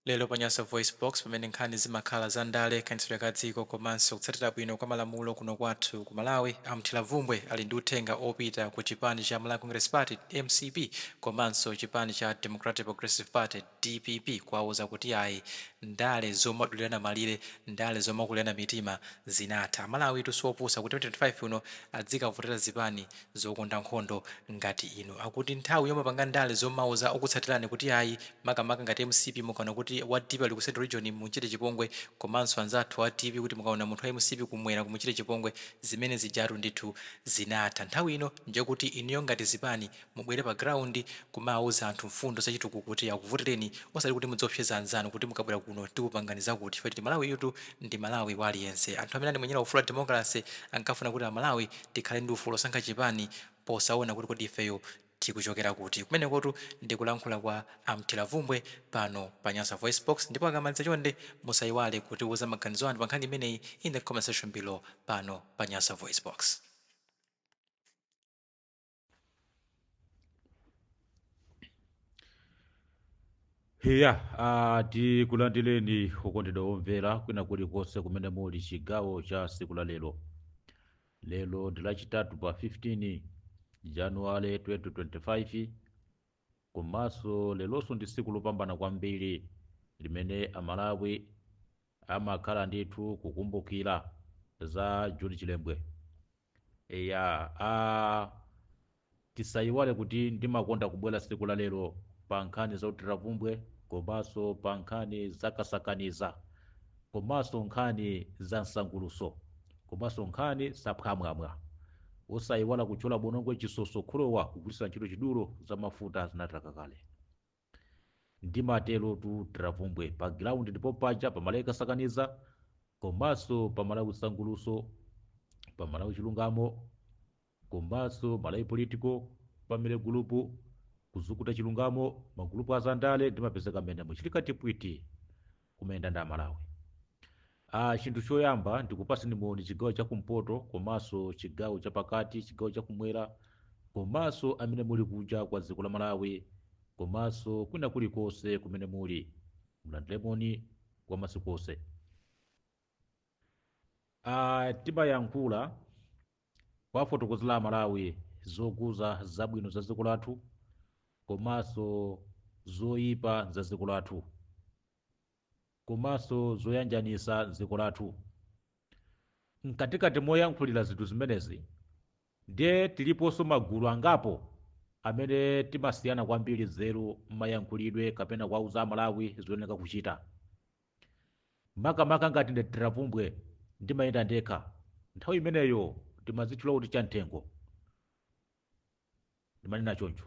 Lero pa Nyasa VoiceBox pamene nkhani zimakhala za ndale, kayendetsedwe ka dziko komanso kutsatira bwino kwa malamulo kuno kwathu ku Malawi, a Mthiravumbwe ali ndi uthenga opita ku chipani cha Malawi Congress Party, mcp, komanso chipani cha Democratic Progressive Party, dpp, kuwauza kuti ayi ndale zomadulirana malire, ndale zomakulirana mitima zinatha. Amalawitu si opusa kuti 2025 uno adzikavotera zipani zokonda nkhondo ngati inu akuti nthawi yomapanga ndale zomauza okutsatilani kuti ayi makamaka ngati mcp mukaona kuti wa dpp ali ku central region mumchite chipongwe komanso anzathu a dpp kuti mukaona munthu wa mcp kumwera mumuchite chipongwe zimene zijatu ndithu zinatha nthawi ino ndiyekuti inuyo ngati zipani mubwere pa ground kumauza anthu mfundo zachitukuko kuti akuvotereni osati kuti mudziopseza anzanu kuti mukabwera kuno tikupangani zakuti chifukwa choti malawiyutu ndi malawi wa aliyense anthu amene anamenyera ufulu wa democracy ankafuna kuti amalawi tikhale ndi ufulu osankha chipani posawona kuti kodi ifeyo tikuchokera kuti. Kumenekotu ndi kulankhula kwa a Mthiravumbwe pano pa Nyasa VoiceBox ndipo akamaliza chonde musayiwale kutiwuza maganizo anu pa nkhani imeneyi in the comment section below pano pa Nyasa VoiceBox. eya uh, tikulandireni okondedwa omvera kwina kulikonse kumene muli chigawo cha siku la lero lero ndi lachitatu pa 15 januwale 2025 komanso leronso ndi siku lopambana kwambiri limene amalawi amakhala ndithu kukumbukira za John Chilembwe eya a tisayiwale kuti ndimakonda kubwera tsiku la lero pa nkhani za Mthiravumbwe komanso pa nkhani za kasakaniza komanso nkhani za nsangulutso komanso nkhani za phwamwamwa osayiwala kutchula bonongwe chisoso khulowa kugwiritsa ntchito chidulo za mafuta zinathaka kale Ndimaterotu Thiravumbwe pa ground ndipo paja pa Malawi Kasakaniza komanso pa Malawi Sangulutso pa Malawi Chilungamo komanso Malawi Political pamene gulupu kuzukuta chilungamo magulupu azandale ndimapezeka mmenemo chilikatipwiti kumayenda ndi amalawi ah, chinthu choyamba ndikupaseni moni chigawo chakumpoto komanso chigawo chapakati chigawo chakumwera komanso amene muli kunja kwa dziko la malawi komanso kwina kulikonse kumene muli mulandire moni wa masiku onse ah, timayankhula kuwafotokozera amalawi zokhuza zabwino za dziko lathu komanso zoyipa za dziko lathu komanso zoyanjanisa dziko lathu mkatikati moyankhulira zinthu zimenezi ndiye tiliponso magulu angapo amene timasiyana kwambiri nzeru mmayankhulidwe kapena kuwauza amalawi zoyenera kuchita Makamaka ngati ndi a Tira Vumbwe, ndimayenda ndekha. Nthawi imeneyo ndimadzitchula kuti chamthengo. Ndimanena choncho.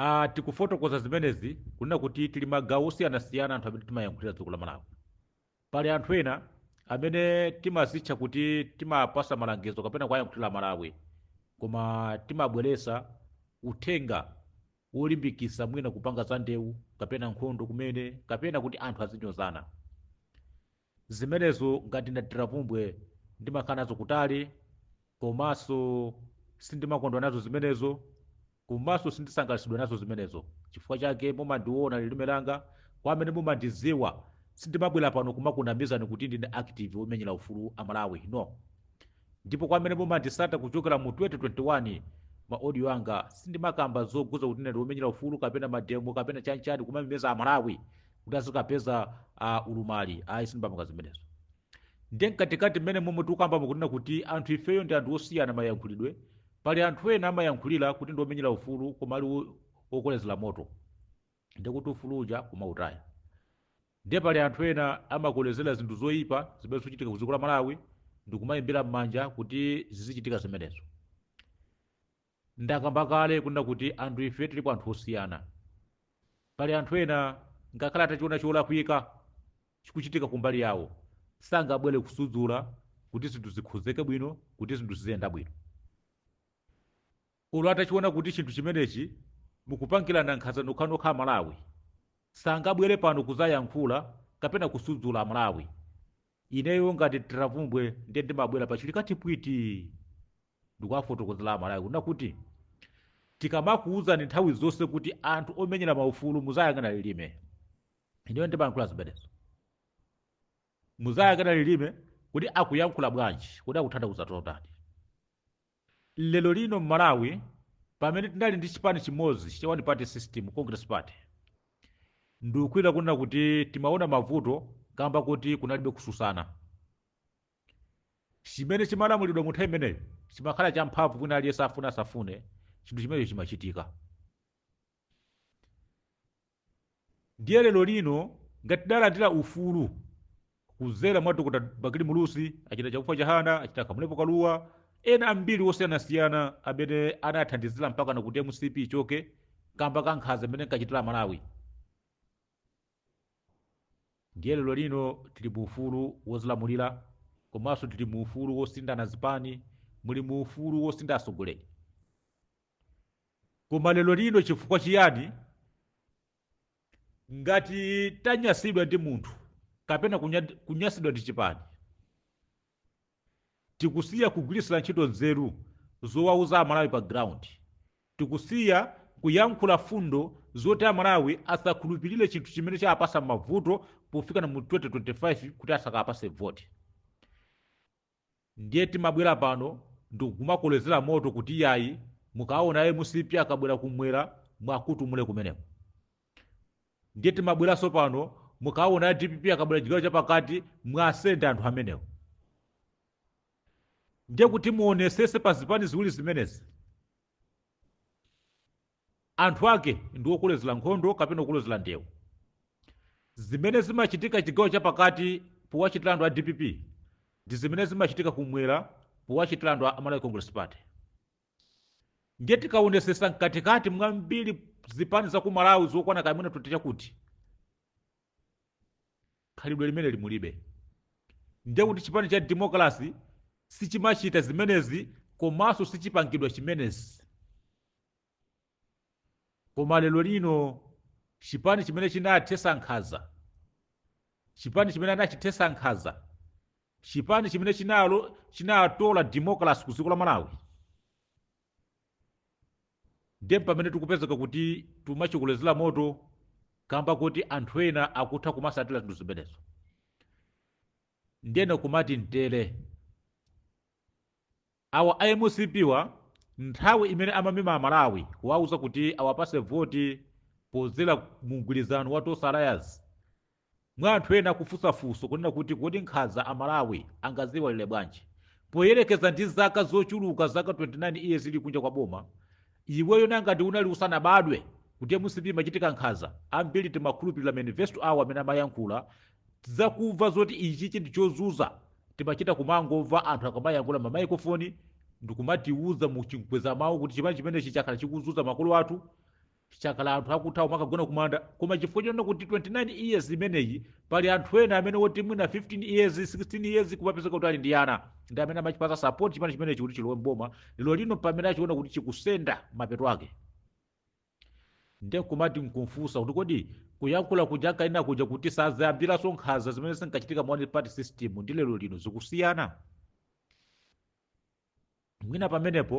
a Tikufotokoza zimenezi kunena kuti tili magawo osiyanasiyana anthu amene timayankhulira dziko la Malawi. Pali anthu ena amene timazitcha kuti timapasa malangizo kapena kuwayankhulira Amalawi, koma timabweresa uthenga wolimbikisa mwina kupanga za ndeu kapena nkhondo kumene kapena kuti anthu azinyozana. Zimenezo ngati ndi a Tira Vumbwe ndimakhala nazo kutali komanso sindimakondwa nazo zimenezo komanso sindisangalatsidwa nazo zimenezo chifukwa chake mumandiona lilime langa kwa amene mumandiziwa sindimabwera pano kumakunamizani kuti ndine active womenyera ufulu amalawi no ndipo kwa amene mumandisata kuchokera mu 2021 ma audio anga sindimakamba zokhuza kuti ndine womenyera ufulu kapena mademo kapena chanchani kumamemeza amalawi kuti azikapeza uh, ulumali ayi sindimapanga zimenezo ndiye mkatikati mmene momwe tikukambamo kunena kuti anthu ifeyo ndi anthu osiyana mayankhulidwe pali anthu ena amayankhulira kuti ndiomenyera ufulu koma ali wo- wokolezera moto ndiye kuti ufulu uja kumautaya ndiye pali anthu ena amakolezera zinthu zoyipa zimene zikuchitika ku dziko la malawi ndikumayimbira m'manja kuti zizichitika zimenezo Ndakamba kale kunena kuti anthu ife tilipo anthu osiyana. Pali anthu ena ngakhale atachiona cholakwika chikuchitika kumbali yawo, sangabwere kusudzula kuti zinthu zikhozeke bwino, kuti zinthu ziziyenda bwino. Olo atachiona kuti chinthu chimenechi mukupangirana nkhanza nokhanokha Amalawi, sangabwere pano kudzayankhula kapena kusudzula Amalawi. Ineyo ngati Tira Vumbwe ndiye ndimabwera pa chilikati pwiti! ndikuwafotokozera amalawi kunena kuti tikamakuwuzani nthawi zonse kuti anthu omenyera maufulu muzayang'ana lilime ineyo ndimayankhula zimenezo muzayang'ana lilime kuti akuyankhula bwanji kuti akutanthauza chotani lero lino mmalawi pamene tinali ndi chipani chimodzi cha one party system congress party ndikukhulupira kunena kuti timaona mavuto kamba kuti kunalibe kususana Chimene chimalamulidwa mu nthawi imeneyo chimakhala champhamvu kwina aliyense afune asafune, chinthu chimenecho chimachitika. Ndiye lero lino ngati tidalandira ufulu kudzera mwa Dr. Bakili Muluzi, a Chitachakufwa Chihana, a Kamulepo Kaluwa, ena ambiri osiyanasiyana amene anathandizira mpakana kuti mcp ichoke kamba ka nkhanza imene inkachitira Amalawi. Ndiye lero lino tili mu ufulu wozilamulira komanso tili mu ufulu wosinthana zipani, muli mu ufulu wosintha atsogoleri. Koma lero lino chifukwa chiyani ngati tanyasidwa ndi munthu kapena kunya- kunyasidwa ndi chipani Tikusiya kugwiritsira ntchito nzeru zowauza Amalawi pa ground. Tikusiya kuyankhula fundo zoti Amalawi asakhulupilire chinthu chimene chawapasa mavuto pofikana mu 2025 kuti asakawapase vote. Ndiye timabwera pano ndikumakolezera moto kuti iyayi mukaona a mcp akabwera kumwera muwakuntumule kumeneko. ndiye timabweranso pano mukaona a dpp akabwera chigawo chapakati muwasende anthu amenewo ndiye kuti muonesese pa zipani ziwiri zimenezi anthu ake ndi okolezera nkhondo kapena okolezera ndewu zimene zimachitika chigawo chapakati powachitira anthu a dpp ndi zimene zimachitika kumwera powachitira anthu a malawi congress party ndiye tikaonesesa mkatikati mwa mbiri zipani za ku malawi zokwana kaya mwina 20 chakuti khalidwe limeneli mulibe ndiye kuti chipani cha demokrasi sichimachita zimenezi komanso sichipangidwa chimenezi koma lero lino chipani chimene chinathesa nkhaza chipani chimene anachithesa nkhaza chipani chimene chinatola democracy ku dziko la malawi nde pamene tikupezeka kuti tumachikolezera moto kamba kuti anthu ena akutha kumasatira zinthu zimenezo ndiyeno kumati mtere Awa a mcp-wa nthawi imene amamema amalawi kuwauza kuti awapase voti podzera mu mgwirizano wa Tonse alliance mwa anthu ena kufunsa funso kunena kuti kodi nkhaza amalawi angaziiwalile bwanji poyelekeza ndi zaka zochuluka zaka 29 years ili kunja kwa boma iweyo ngati unali usanabadwe kuti mcp imachita nkhaza ambili timakhulupilila manifesto awo amene amayankhula Za kumva zoti ichichi ndi chozuza timachita kumangomva anthu akamayankhula ma microphone ndikumatiuza mu chinkweza mawu kuti chipani chimenechi chakhala chikuzuza makolo athu chakhala anthu akuthawa kumakagona kumanda koma chifukwa chonena kuti 29 years imeneyi pali anthu ena amene woti mwina 15 years 16 years kumapezeka kuti ali ndi ana ndi amene amachipasa support chipani chimenechi kuti chilowe mboma lero lino pamene achiona kuti chikusenda mapeto ake Ndiye nkumati nkumfunsa kuti kodi kuyankhula kuja ankanena kuja kuti sadzayambiranso nkhanza zimene zinkachitika mu one party system ndi lero lino zikusiyana? Mwina pamenepo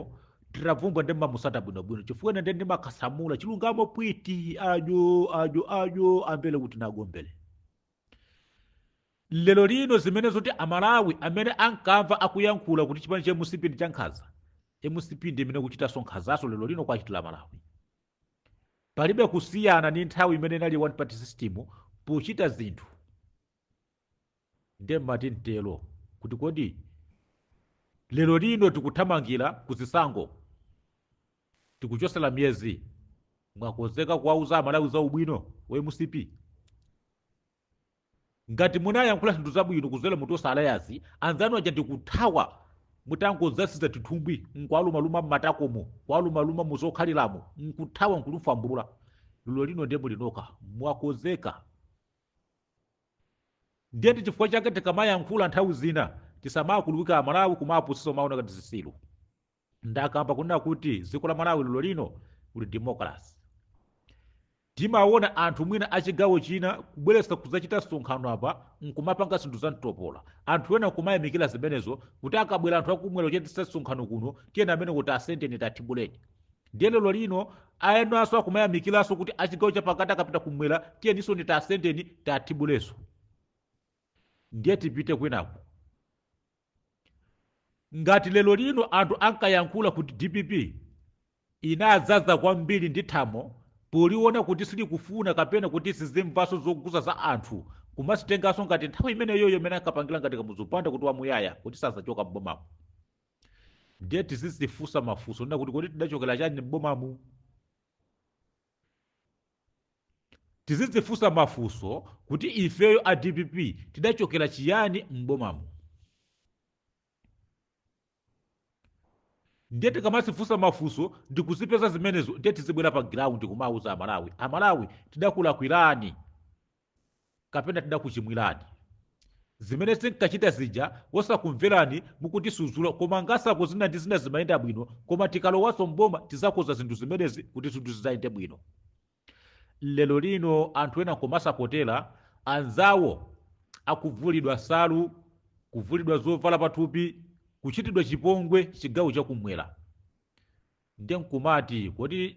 Tiravumbwa ndiye mumamutsata bwinobwino chifukwa ine ndiye ndimakasamula chilungamo pwiti ajo ajo ajo ambele kuti nagombele. lero lino zimene zoti amalawi amene ankamva akuyankhula kuti chipani cha mcp ndi chankhanza mcp ndi imene ikuchitanso nkhanzaso lero lino kuwachitira amalawi palibe kusiyana ndi nthawi imene inali one party system pochita zinthu nde mmati mtero kuti kodi lero lino tikuthamangira kuzisankho tikuchosela miyezi mwakozeka kuwauza amalawi za ubwino wa mcp ngati munayankhula zinthu zabwino kuzela mu tonse alliance anzanu aja ndikuthawa mutangodzaziza tithumbwi nkuwalumaluma mmatakomo kuwalumaluma muzokhaliramo nkuthawa nkulufambulula lero lino ndiye mulinoka mwakozeka ndiye ndi chifukwa chake tikamayankhula nthawi zina tisamakuluwike amalawi kumawapusisa kumawaona ngati zisilu ndakamba kunena kuti dziko la malawi lero lino kuli democracy timaona anthu mwina achigawo china kubweretsa kudzachita msonkhano apa nkumapanga zinthu za mtopola anthu ena nkumayamikira zimenezo kuti akabwera anthu akumwera kuchititsa msonkhano kuno tiyeni amene kuti asendeni tathibuleni ndiye lero lino enanso akumayamikiranso kuti achigawo chapakati akapita kumwera tiyeninso ni tasendeni tathibuleninso ndiye tipite kwinaku Ngati lero lino anthu ankayankhula kuti dpp inadzaza kwambiri ndi matamo poliona kuti silikufuna kapena kuti silimvanso zouza za anthu kumazitenganso ngati nthawi imeneyoyo imene ankapangila ngati Kamuzu Banda kuti wamuyaya kuti sazachoka m'bomamu. Ndiye tizizifunsa mafunso kunena kuti kodi tidachokera chani m'bomamu? tizidzifunsa mafunso kuti ifeyo a dpp tidachokera chiyani m'bomamu ndiye tikamazifunsa mafunso ndikuzipeza zimenezo ndiye tizibwera pa ground kumawauza amalawi amalawi tidakulakwirani Kapena tidakuchimwirani? Zimene tinkachita zija osakumverani mukutisudzula koma ngatiko zina ndi zina zimayenda bwino koma tikalowanso m'boma tidzakonza zinthu zimenezi kuti zinthu zidzayende bwino. Lero lino anthu ena nkumasapotera anzawo akuvulidwa nsalu, kuvulidwa zovala pathupi, kuchitidwa chipongwe chigawo chakumwera. Ndiye nkumati kodi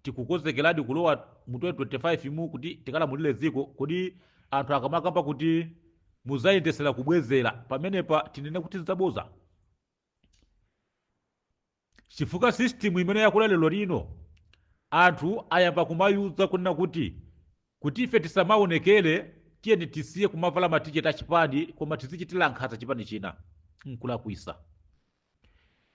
tikukonzekeradi kulowa mu 2025 mu kuti tikalamulire dziko? Kodi anthu akamakamba kuti mudzayendetsera kubwezera, pamenepa tinene kuti nzaboza? Chifukwa system imene yakula lero lino, anthu ayamba kumauza kunena kuti, kuti ife tisamaonekere tiyeni tisiye kumavala ma t-shirt a chipani koma tizichitira nkhanza chipani china. Nkulakwisa.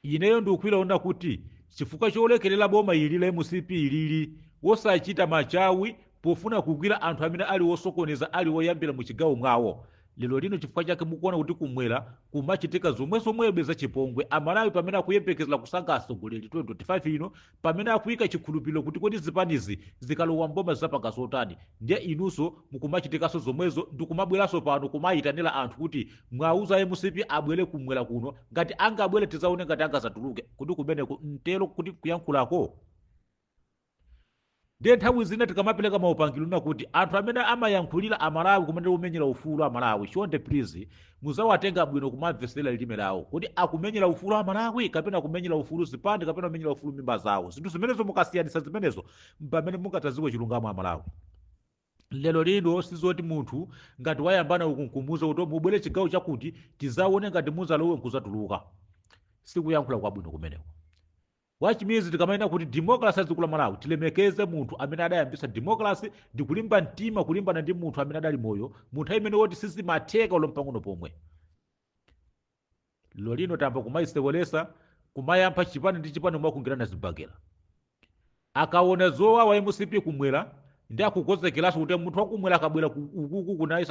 Ineyo ndikuilona kuti chifukwa cholekerera boma ili la mcp lili wosachita machawi pofuna kugwira anthu amene ali wosokoneza ali woyambira mu chigawo mwawo lero lino chifukwa chake mukuona kuti kumwera kumachitika zomwezomwezo zachipongwe a Malawi pamene akuyembekezera kusankha atsogoleri 2025 ino pamene akuika chikhulupiliro kuti kodi zipanizi zikalowa mboma zizapanga zotani ndiye inuso mukumachitikaso zomwezo ndikumabweraso pano kumaitanila anthu kuti muwauze a mcp abwere kumwera kuno ngati angabwere tizaone ngati angazatuluke kodi kumeneko mtero kuti kuyankhulako Ndiye nthawi zina tikamapeleka maupangilo onena kuti anthu amene amayankhulila a Malawi kumene omenyela ufulu a Malawi chonde please muziwatenga bwino kumamvesela lilime lawo. Kodi akumenyela ufulu a Malawi kapena akumenyela ufulu zipani kapena akumenyela ufulu mimba zawo? Zinthu zimenezo mukasiyanitsa zimenezo mpamene mungadzadziwe chilungamo a Malawi. Lero lino sizoti munthu ngati wayambana uku nkumuuza kuti mubwele chigawo chakuti tizaone ngati muzalowe nkuzatuluka. Sikuyankhula kwabwino kumeneko. Wa chimizi tikamanena kuti democracy ya dziko la Malawi tilemekeze munthu amene adayambitsa democracy ndi kulimba mtima kulimbana ndi munthu amene adali moyo mu nthawi imene woti sizimatheka olo mpang'ono pomwe. Lero lino tayamba kumayisewelesa kumayamba chipani ndi chipani kumasungirana zibagera. Akaona zowawa MCP kumwera ndi akukonzekeranso kuti munthu wakumwera akabwera ku- ukuku kuno naye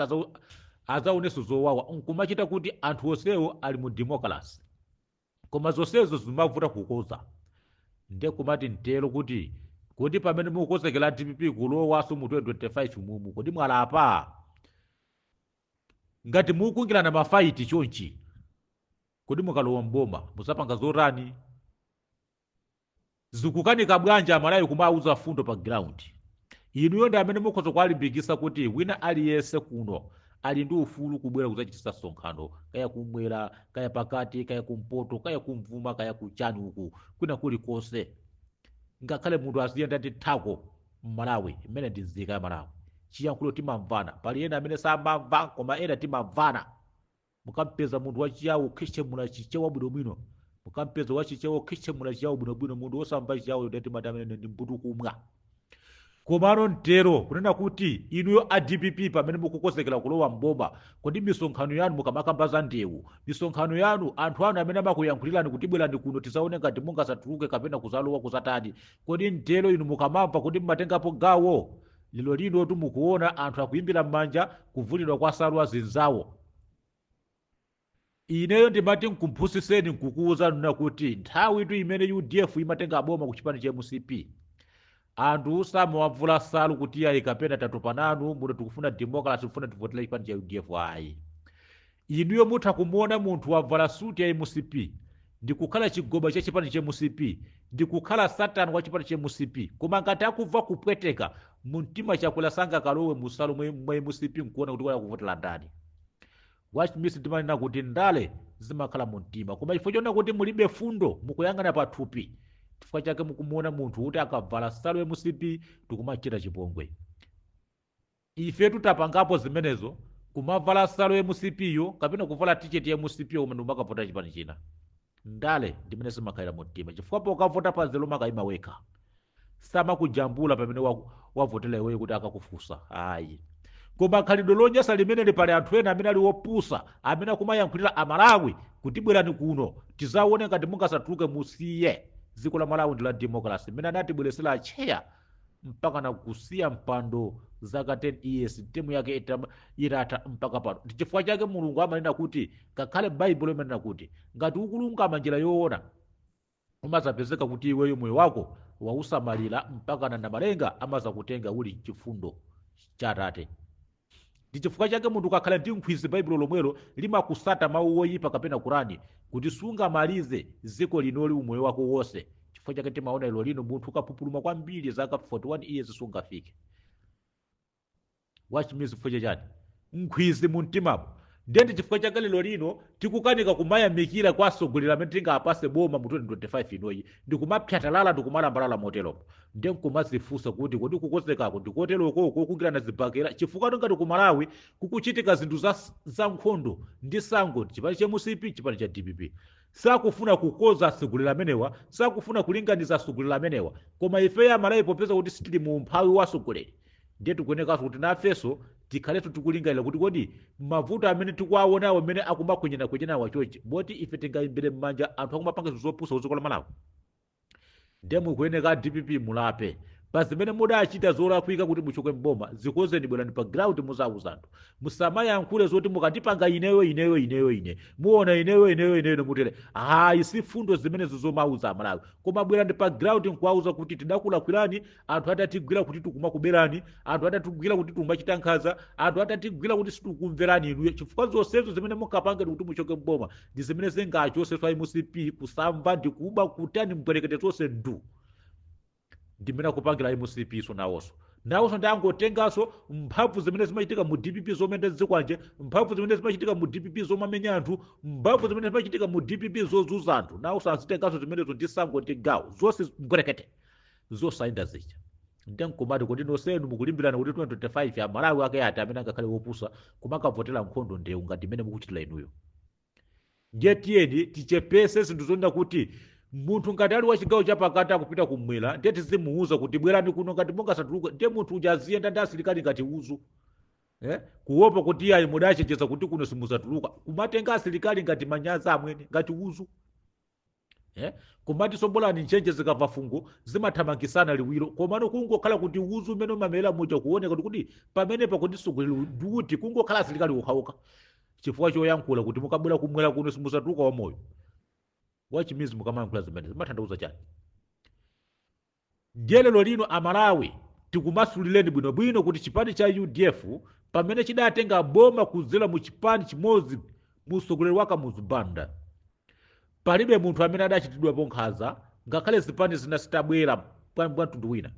adzaonenso zowawa nkumachita kuti anthu onsewo ali mu democracy. koma zonsezo zimavuta kukoza nde kumati mtero kuti kodi pamene mukukonzekera dpp kulowaso mu 2025 mumu kodi mwalapa ngati mukusungirana mafaiti chonchi kodi mukalowa mboma muzapanga zotani Zikukanika bwanji amalawi kumawuza fundo pa ground? Inuyo ndi amene mukhoza kuwalimbikisa kuti wina aliyese kuno ali ndi ufulu kubwera kuzachitisa sonkhano kaya kumwera kaya pakati kaya kumpoto kaya kumvuma kaya kuchani uku kwina kuli kose ngakhale munthu aziyenda ndi thako mmalawi imene ndi nzika ya Malawi chiyankhulo timamvana pali ena amene samamva koma ena timamvana Mukampeza munthu wa Chiyawo wokhechemula Chichewa bwinobwino, mukampeza wa Chichewa wokhechemula Chiyawo bwinobwino, munthu wosamva Chiyawoyo ndiye timati ameneyo ndi mbutukumwa. Komano n'tero kunena kuti, inuyo a dpp pamene mukukonzekera kulowa m'boma, kodi misonkhano yanu mukamakamba za ndewu, misonkhano yanu, anthu anu amene amakuyankhulirani kuti bwerani kuno tidzaone ngati mungadzatuluke kapena kudzalowa kudzatani, kodi n'tero inu mukamamva, kodi mumatengapo gawo? Lero linotu mukuona anthu akuimbira m'manja kuvulidwa kwa nsalu azinzawo. Ineyo ndimati nkuphunzitseni nkukuwuzani kunena kuti nthawitu imene udf imatenga boma ku chipani cha mcp anthu samawavula nsalu kuti iyayi kapena tatopa nanu muno tikufuna democracy tikufuna tivotere chipani cha udf ayi inuyo mutha kumuona munthu wavala suti ya mcp ndikukhala chigoba cha chipani cha mcp ndikukhala satani wa chipani cha mcp koma ngati akuva kupweteka mumtima chakwera sangakalowe mu nsalu mwe- mwa mcp nkuona kuti wala kuvotera ndani wachimisi timanena kuti ndale zimakhala mu mtima koma chifukwa chona kuti mulibe fundo mukuyang'ana pa thupi chifukwa chake mukumuona munthu kuti akavala nsalu mcp tikumachita chipongwe Ifetu tapangapo zimenezo kumavala nsalu ya mcp yo kapena kuvala t-shirt ya mcp yo koma ndikumakavotera chipani china. Ndale ndi mmene zimakhalira mumtima chifukwa pokavota pa nzeru umakaima wekha. Samakujambula pamene waku- wavotera iweyo kuti akakufunse ayi. Koma khalidwe lonyasa limeneli pali anthu ena amene ali opusa amene akumayankhulira Amalawi kuti bwerani kuno tizaone ngati mungazatuluke musiye. Dziko la Malawi ndi la democracy mmene anatibweretsera atcheya mpakana kusiya mpando zaka 10 years temu yake itama- itatha mpaka pano ndi chifukwa chake mulungu amanena kuti ngakhale baibulo imanena kuti ngati ukulungama njira yoona umazapezeka kuti iweyo moyo wako wausamalira mpakana namalenga amazakutenga uli mchifundo cha atate Ndi chifukwa chake munthu ukakhala ndi nkhwizi baibulo lomwelo limakutsata mau woyipa kapena kurani kuti sungamalize dziko linoli umoyo wako wose chifukwa chake timaona lero lino munthu ukapupuluma kwambiri zaka 41 years sungafike wachimisi chifukwa chachani nkhwizi mumtimamo Ndiye ndi chifukwa chake lero lino tikukanika kumayamikira kwa atsogoleri amene tingawapase boma mu 2025 inoyi ndi kumapyatalala ndi kumalambalala moteromo ndiye nkumazifunsa kuti kodi kukonzekako ndi koteroko kokungirana zibakera chifukwa tingati ku malawi kukuchitika zinthu za, za nkhondo ndi sankho chipani cha mcp chipani cha dpp sakufuna kukonza atsogoleri amenewa sakufuna kulinganiza atsogoleri amenewa koma ifeyo amalawi popeza kuti sitili mu umphawi wa atsogoleri Ndiye tikuyenekanso kuti nafenso tikhalenso tikulingalira kuti kodi mavuto amene tikuwaonawa amene akumakhwenyanakhwenyanawa chochi moti ife tingaimbire m'manja anthu akumapanga zinthu zopusa kudziko la malawi ndiye mukuyeneka a dpp mulape pa zimene mudachita zolakwika kuti muchoke mboma zikonzeni bwerani pa ground muzauze anthu musamayankhule zoti mukandipanga ineyo ineyo ineyo ine muona ineyo ineyo ineyo ine mutere hayi si mfundo zimenezo zomauza amalawi koma bwerani pa ground nkuwauza kuti tidakulakwirani anthu atatigwira kuti tikumakubelani anthu atatigwira kuti tikumachita nkhanza anthu atatigwira kuti sitikumverani inuyo chifukwa zonsezo zimene munkapanga kuti muchoke mboma ndi zimene zingachotsenso a mcp kusamva ndi kuba kutani mbwerekete zonse ndu ndi mmene akupangira mcp so nawonso nawonso nde angotenganso mphamvu zimene zimachitika mu dpp zomayenda ndi zikwanje mphamvu zimene zimachitika mu dpp zomamenya anthu mphamvu zimene zimachitika mu dpp zozunza anthu nawonso azitenganso zimenezo ndi sankho ndi gawo zonse mbwerekete Zosayenda zija. Nde nkumati kodi nonsenu mukulimbirana kuti 2025 a Malawi ake ati amene angakhale opusa kumakavotera nkhondo ndewu ngati imene mukuchitira inuyo. Ndiye tiyeni tichepese zinthu zonena kuti munthu ngati ali wachigawo chapakati akupita kumwera ndiye tizimuuza kuti bwerani kuno ngati mungazatuluke ndiye munthu uja aziyenda ndi asilikali ngati uzu. Eh? Kuopa kuti iyayi mudachenjeza kuti kuno simuzatuluka. Kumatenga asilikali ngati manyazi amwene ngati uzu. Eh? kumatinso bolani nchenje zikamva fungo zimathamangisana liwiro komano kungokhala kuti uzu umene umamera muja kuoneka kuti kuti pamene pakuti sugwiri duti kungokhala asilikali ukhauka chifukwa choyankhula kuti mukabwera kumwera kuno simuzatuluka wamoyo achimidzi mukamayankhula zimenezi zimatanthauza chani Ndiye lero lino a Malawi tikumasulireni bwino bwino kuti chipani cha udf pamene chidatenga boma kuchokera mu chipani chimodzi mu utsogoleri wa Kamuzu Banda palibe munthu amene adachitidwapo nkhanza ngakhale zipani zina zitabwera bwa bwa mtundu wina.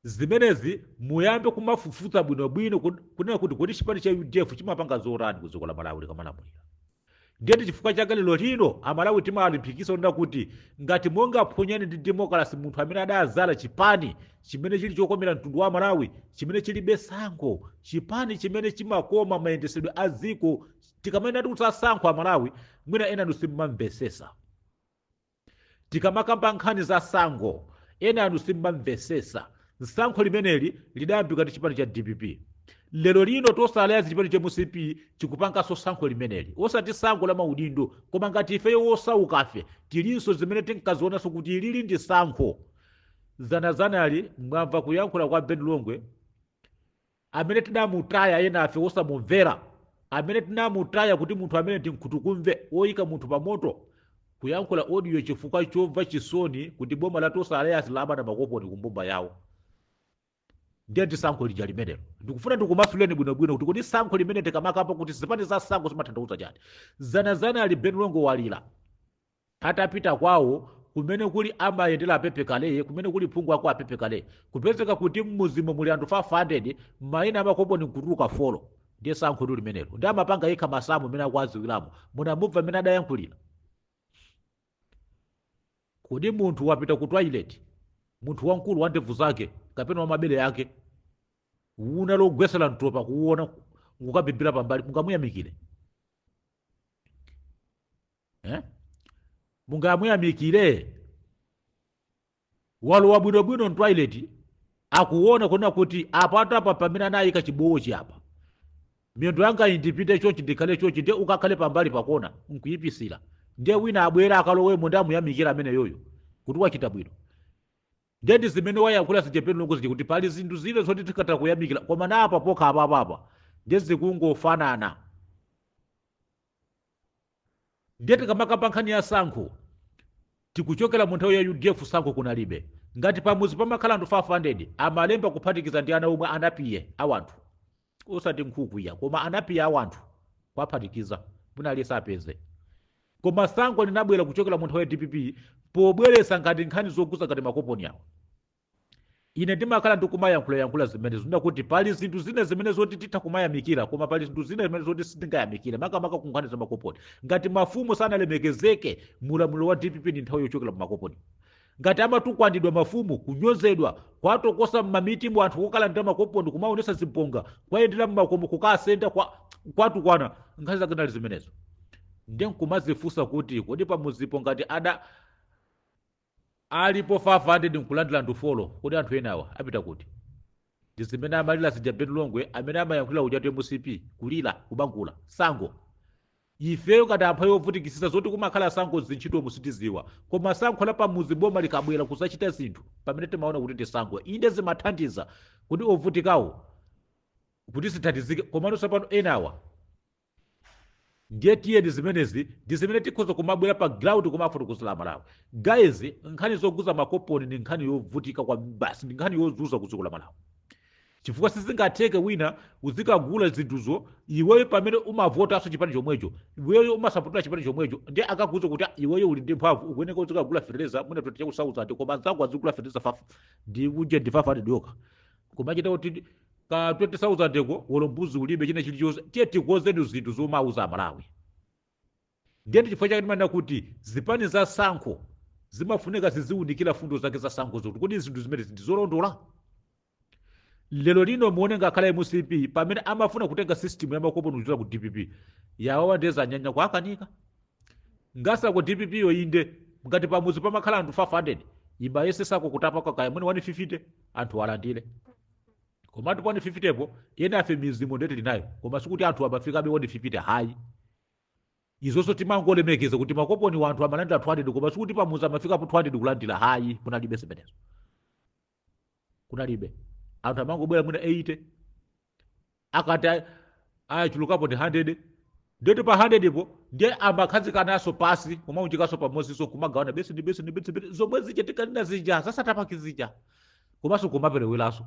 Zimenezi muyambe kumafufuza bwinobwino kud- kunena kuti kodi chipani cha udf chimapanga zotani ku dziko la malawi chikamalamulira ndiye ndi chifukwa chake lero lino amalawi timalimbikitsa kunena kuti ngati mungaphonyane ndi demokalasi munthu amene adadzala chipani chimene chili chokomera mtundu wa amalawi chimene chilibe sankho chipani chimene chimakonza mayendesedwe a dziko tikamanena kuti kusasankho amalawi mwina enanu simmamvesesa Tikamakamba nkhani za sankho enanu simmamvesesa. Sankho limeneli lidayambika ndi chipani cha dpp. Lero lino Tonse Alliance chipani cha mcp chikupanganso sankho limeneli. Osati sankho la maudindo koma ngati ifeyo wosaukafe tilinso zimene tinkazionanso kuti ilili ndi sankho. Dzanadzanali mwamva kuyankhula kwa Ben Longwe amene tinamutaya enafe wosamumvera amene tinamutaya kuti munthu amene ndi nkhutukumve woyika munthu pa moto kuyankhula audio chifukwa chomva chisoni kuti boma la Tonse Alliance lamana makoponi kumbumba yawo ndiye ndi sankho lija limenelo ndikufuna ndikumasuleni bwinobwino kuti kodi sankho limene tikamakamba kuti zipani za sankho zimatanthauza chani dzanadzanali Ben Longwe walira atapita kwawo kumene kuli amayendera apepe kale kumene kuli phungu wako apepe kale kupezeka kuti mmuzimo muli anthu 500 mayina amakoponi nkutuluka folo ndiye sankhotu limenelo ndi amapanga yekha masamu amene akuwadziwiramo munamumva amene adayankhulira kodi munthu wapita ku toilet munthu wamkulu wa ndevu zake kapena wamabere ake una logwesera mtopa kuwona ukabibira pambali mungamuyamikire eh? mungamuyamikire walowa bwinobwino mtoilet akuona kuona kuti apa atapa pamene anayika chibowochi apa miyendo yanga indipite chochi ndikhale chochi ndiye ukakhale pambali pakona nkuyipisira ndiye wina abwera akalowemo ndi amuyamikira ameneyoyo kuti wachita bwino ndiye ndi zimene wayankhula zija Ben Longwe zija kuti pali zinthu zina zoti tikatha kuyamikira koma na apa pokha apapapa ndiye zikungofanana ndiye tikamakamba nkhani ya sankho tikuchokera mu nthawi ya udf sankho kunalibe ngati pamuzi pamakhala anthu 500 amalemba kuphatikiza ndi ana omwe anapiye awanthu osati nkhuku iya koma anapiye awanthu kwaphatikiza wina aliyense apeze koma sankho linabwera kuchokera mu nthawi ya dpp pobweresa ngati nkhani zokhuza ngati makoponi awo ine ndimakhala ndikumayankhulayankhula zimenezo nda kuti pali zinthu zina zimene zoti titha kumayamikira koma pali zinthu zina zimene zoti sitingayamikire makamaka ku nkhani za makoponi ngati mafumu sanalemekezeke mulamuliro wa dpp ndi nthawi yochokera mu makoponi ngati amatukwanidwa mafumu kunyozedwa kwatokosa mmamiti mu anthu kukalandira makoponi kumaonesa zibonga kwayendera mmakomo kukasenda kwa, kwatukwana nkhani zake zinali zimenezo nde nkumazifunsa kuti kodi pamuzipo ngati ada alipo 500 nkulandira anthu folo kodi anthu enawa apita kuti ndi zimene amalira zija Ben Longwe amene amayankhulira ujatu mcp kulira kubangula sankho ifeyo ngati amphawi ovutikisisa zoti kumakhala sankho mzintchitomu sitiziwa koma sankho la pamuzi boma likabwera kuzachita zinthu pamene timaona kuti ndi sankho inde zimathandiza kuti ovutikawo kuti zithandizike komano tsopano enawa ndiye tiyeni zimenezi ndi zimene tikhoza kumabwera pa ground kumafotokozera amalawi guys nkhani zoguluza makoponi ndi nkhani yovutika kwabasi ndi nkhani yozuza ku dziko la malawi chifukwa sizingatheke wina uzikagula zinthuzo iweyo pamene umavotanso chipani chomwecho iweyo umasapotera chipani chomwecho ndiye akakuuza kuti "Ah, iweyo uli ndi mphamvu ukuyeneka uzikagula fertilizer mwina 20000 koma nzako azigula fertilizer fafa ndi uje ndi 500 yokha kumachita kuti ka 20000 ko olo mbuzi ulibe china chilichonse tiye tikonzeni zinthu zomawauza amalawi ndiye ndi chifukwa chake timanena kuti zipani za sankho zimafunika ziziwunikira fundo zake za sankho zoti kodi zinthu zimene ndi zolondola lero lino muone ngakhale mcp pamene amafuna kutenga system ya makoponi kuchita ku dpp yawawa ndiye zanyanya kuwakanika Ngasako dpp yo inde ngati pamuzi pamakhala anthu 500 imayesesako kutapako kaya mwina 150 anthu alandire komatu pa 150 po ena afe mizimo ndeti linayo koma sikuti anthu amafikabe 150 hayi izonso timangolemekeza kuti makoponi anthu amalandira 200 koma sikuti pamuzi amafikapo 200 kulandira hayi kunalibe zimenezo kunalibe anthu amangobwera mwina 80 akati a- achulukapo ndi 100 ndiye kuti pa 100 po ndiye amakhazikananso pasi kumaunjikanso pamodzinso kumagawana beseni beseni beseni beseni. zomwe zija tikanena zija za starter pack zija komanso kumapereweranso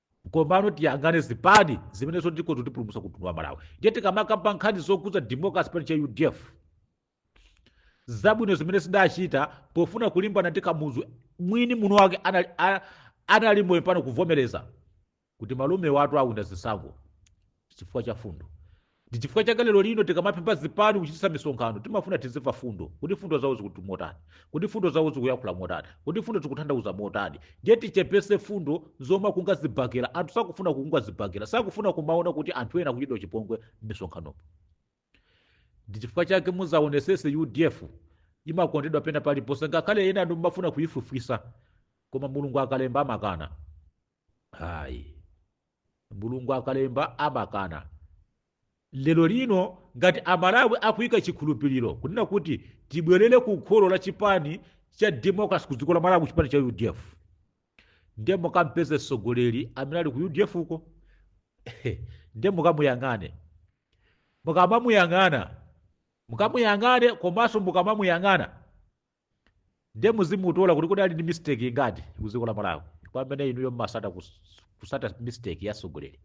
komano tiyang'ane zipani zimene zotiko zotipulumutsa ku mtundu wa malawi ndiye tikamakamba nkhani zokuza democracy chipani cha udf zabwino zimene zidachita pofuna kulimbana ndi kamuzu mwini munthu wake anali, a- anali moyo pano kuvomereza kuti malume athu awina zisankho chifukwa cha fundo ndi chifukwa chake lero lino tikamapempha zipani kuchititsa misonkhano timafuna tizimva fundo kuti fundo zawo zikuti motani kuti fundo zawo zikuyankhula motani kuti fundo zikutanthauza motani ndiye tichepese fundo zomakunga zibhakera anthu sakufuna kukunga zibhakera sakufuna kumaona kuti anthu ena akuchitidwa chipongwe m'misonkhanopo ndi chifukwa chake muzaonesese udf imakondedwa pena paliponse ngakhale ena anu mmafuna kuyifufutsa koma mulungu akalemba amakana ayi mulungu akalemba amakana lero lino ngati amalawi akuyika chikhulupiriro kunena kuti tibwerere ku kholo la chipani cha democracy ku dziko la malawi chipani cha udf ndiye mukampeze mtsogoleri amene ali ku udf uko ndiye mukamuyang'ane mukamamuyang'ana mukamuyang'ane komanso mukamamuyang'ana ndiye muzimutola kuti kodi ali ndi mistake ingati ku dziko la malawi kwa amene inuyo mmasata kus- kusata mistake ya atsogoleri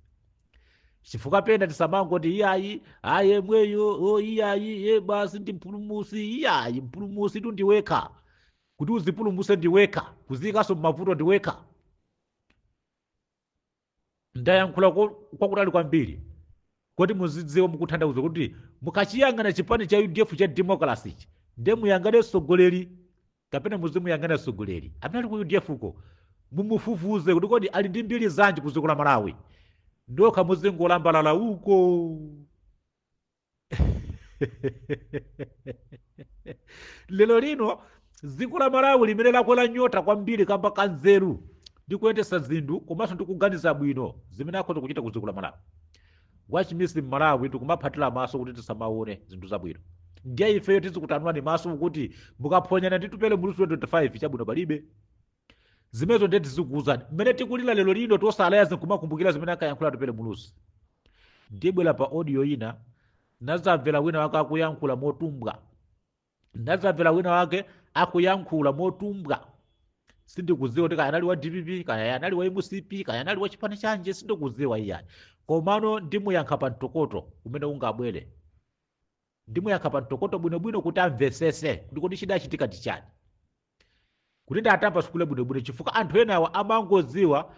chifukwa pena tisamangoti iyayi ayi yemweyo iyayi basi ndi mpulumusi iyayi mpulumusitu ndiwekha kuti uzipulumuse ndiwekha kuziikanso mmavuto ndiwekha ndayankhula ko- kwakutali kwambiri kuti muzidziwa mukuthandauza kuti mukachiyang'ana chipani cha udf cha democracy ichi nde muyang'ane mtsogoleri kapena muzimuyang'ana mtsogoleri amene ali ku udf ko mumufufuze kuti kodi ali ndi mbiri zanji ku dziko la malawi ndokha muzingolambalala uko lero lino dziko la malawi limene lakwera nyota kwambiri kamba ka nzeru ndi kuyendesa zinthu komanso ndi kuganiza bwino zimene akhoza kuchita ku dziko la malawi wachimisi mmalawi tikumaphatira maso kuti tisamaone zinthu zabwino ndiye ifeyo tizikutanwani maso kuti mukaphonyana ndi tupele muluzi 25 chabwino palibe zimenezo ndiye tizikuwuzani mmene tikulira lero lino tosalayazi nkumakumbukira zimene ankayankhula tupele muluzi ndibwera pa audio ina nazamvera wina wake akuyankhula motumbwa nazamvera wina wake akuyankhula motumbwa sindikudziwa kuti kaya anali wa dpp kaya anali wa mcp kaya anali wa chipani chanji sindikudziwa iyayi komano ndimuyankha pa mtokoto umene ungabwere ndimuyankha pa mtokoto bwinobwino kuti amvesese kuti kodi chidachitika ndi chani kuti ndatambasukule bwinobwino chifukwa anthu enawa amangodziwa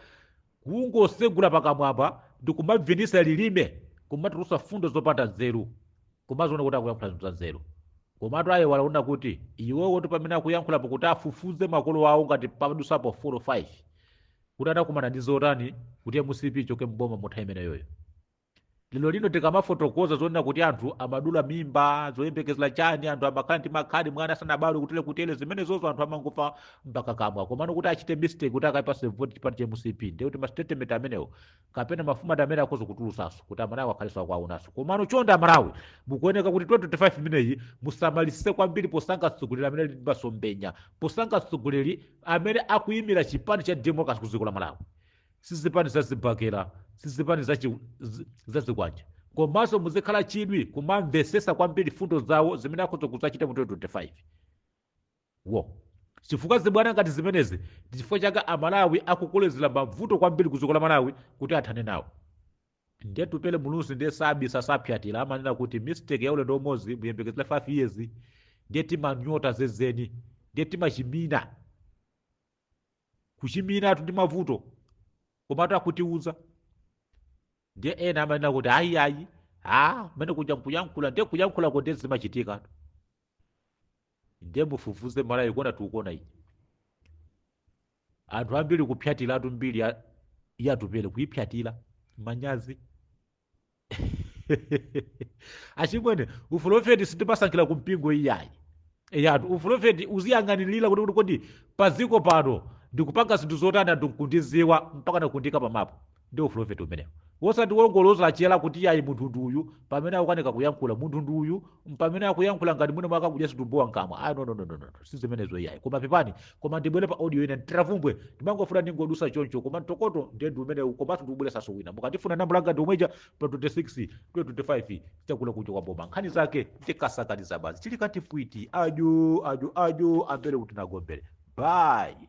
kungosegula pakamwapa ndi kumabvinisa lilime kumatulusa fundo zopanda nzeru kumaziona kuti akuyankhula zinthu za nzeru komatu aye walaona kuti iwowotu pamene akuyankhulapo kuti afufuze makolo awo ngati padusapo 4 5 kuti anakumana ndi zotani kuti mcp ichoke mboma muntha imeneyoyo lero lino tikamafotokoza zonena kuti anthu amadula mimba zoyembekezera chani anthu amakhala ndi makhadi mwana asanabadwe kutele kutele zimenezozo anthu amangomva mpakakamwa komano kuti achite mistake kuti akaipase vote chipani cha mcp ndiye kuti mastatement amenewo kapena mafumu ati amene akhoza kutulusaso kuti amalawi akhaleso akuaonaso komano chonde amalawi mukuoneka kuti 2025 imeneyi musamalisise kwambiri posankha mtsogoleri amene ali ndi masomphenya posankha mtsogoleri amene akuyimira chipani cha democracy ku dziko la malawi sizipani za zibakera sizipani za, chi, z- za zikwanja komanso muzikhala chidwi kumamvesesa kwambiri fundo zawo zimene akhoza kudzachita mu 2025 wo chifukwa zibwana ngati zimenezi ndi chifukwa chake amalawi akukolezera mavuto kwambiri ku dziko la malawi kuti athane nawo ndiye tupele muluzi ndiye sabisa sapyatira amanena kuti mistake ya ulendo umodzi muyembekezera 5 years ndiye timanyota zezeni ndiye timachimina kuchimiratu ndi mavuto komatu ankatiuza ndiye ena amanena kuti ayi ayi a mmene kuja nkuyankhula ndiye kuyankhula kuti zimachitika ndiye mufufuze malawi kuona tikuona iyi anthu ambiri kupyatiratu mbiri ya- yatupere kuipyatira manyazi achimwene upulofeti sitimasankhira ku mpingo iyayi eyatu upulofeti uziyang'anirira kuti kuti kodi pa dziko pano ndikupanga zinthu zotani anthu nkundiziwa mpaka nakundika pamapo ndi upulofeti umenewo wosati wongoloza chala kuti iyayi munthu ndi uyu pamene akukanika kuyankhula munthu ndi uyu mpamene akuyankhula ngati mwina mwakakudya zitumbuwa mkamwa ayi nonononono si zimenezo iyayi koma pepani koma ndibwere pa audio ina Tiravumbwe ndimangofuna ndingodusa choncho koma mtokoto ndiye ndi umenewu komanso ndikubweresanso wina mukandifuna nambala yanga ndi yomweija pa 26 25 chakula kucha kwa boma nkhani zake ndikasakaniza basi chili katifwiti ajo ajo ajo ambere kuti nagombere bayi